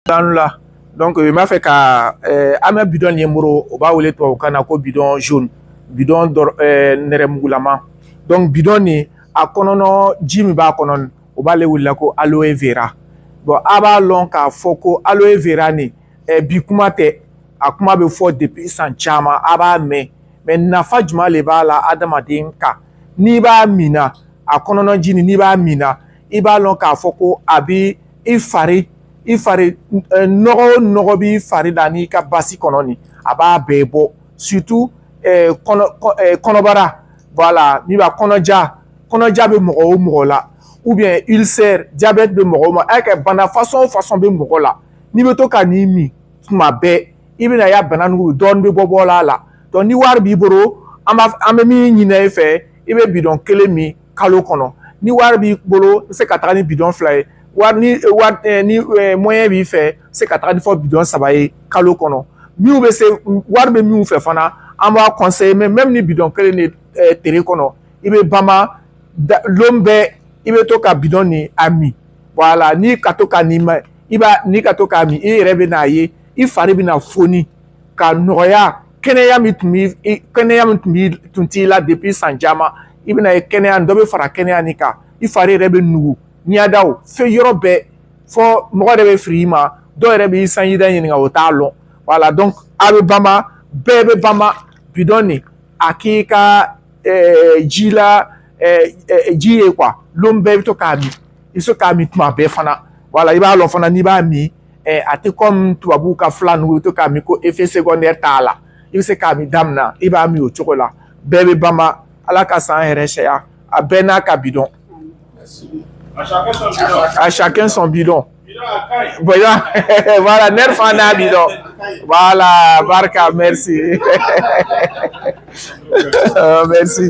danu la donc n b'a fɛ ka eh, an bɛ bidɔn nin ye moro o b'a wele tubabukan na ko bidɔn jaune bidɔn eh, nɛrɛmugulama donc bidɔn nin a kɔnɔnɔ ji min b'a kɔnɔ o b'ale wele la ko aloe vera bon a b'a lɔn k'a fɔ ko aloe vera nin eh, bi kuma tɛ a kuma bɛ fɔ depuis san caman a b'a mɛn mais nafa jumɛn le b'a la adamaden kan n'i b'a min na a kɔnɔnɔ ji nin n'i b'a min na i b'a lɔn k'a fɔ ko a bi i fari i fari eh, nɔgɔ o nɔgɔ b'i fari la n'i ka basi kɔnɔ nin a b'a bɛɛ bɔ surtout eh, eh, kɔnɔbara voilà min b'a kɔnɔja kɔnɔja bɛ mɔgɔ o mɔgɔ la ou bien ulcère diabète bɛ mɔgɔ o ma a kɛ bana façon o façon bɛ mɔgɔ la n'i bɛ to ka nin min tuma bɛɛ i bɛna y'a bana nugu dɔɔnin bɛ bɔ bɔla a la donc ni wari b'i bolo an b'a an bɛ min ɲini i fɛ i bɛ bidɔn kelen min kalo kɔnɔ ni wari b'i bolo i bɛ se ka taga ni bidɔn fila ye wari ni wari ni moyen b'i fɛ i se ka taga ni fɔ bidɔn saba ye kalo kɔnɔ minnu bɛ se wari bɛ minnu fɛ fana an b'a conseiller mais même ni bidɔn kelen le tere kɔnɔ i bɛ bama lon bɛɛ i bɛ to ka bidɔn ni a min voilà n'i ka to ka nin ma i b'a n'i ka to k'a min i yɛrɛ bɛn'a ye i fari bɛna foni ka nɔgɔya kɛnɛya min tun b'i kɛnɛya min tun b'i tun t'i la depuis san caman i bɛna ye kɛnɛya dɔ bɛ fara kɛnɛya nin kan i fari yɛrɛ bɛ nugu ɲɛdaw fɛn yɔrɔ bɛɛ fɔ mɔgɔ yɛrɛ bɛ fili i ma dɔw yɛrɛ b'i sanji da ɲininka o t'a lɔn voilà donc a bɛ bama bɛɛ bɛ bama bidɔn nin a k'i ka ji la ji ye quoi lon bɛɛ i bɛ to k'a min i bɛ se k'a min tuma bɛɛ fana voilà i b'a lɔn fana n'i b'a min ɛ a tɛ comme tubabuw ka fila ninnu to k'a min ko effet secondaire t'a la i bɛ se k'a min damina i b'a min o cogo la bɛɛ bɛ bama ala ka san hɛrɛ caya a bɛɛ n'a ka bidɔn à chacun son bidon voilà voilà nɛri fana n'a bidɔn voilà barika merci merci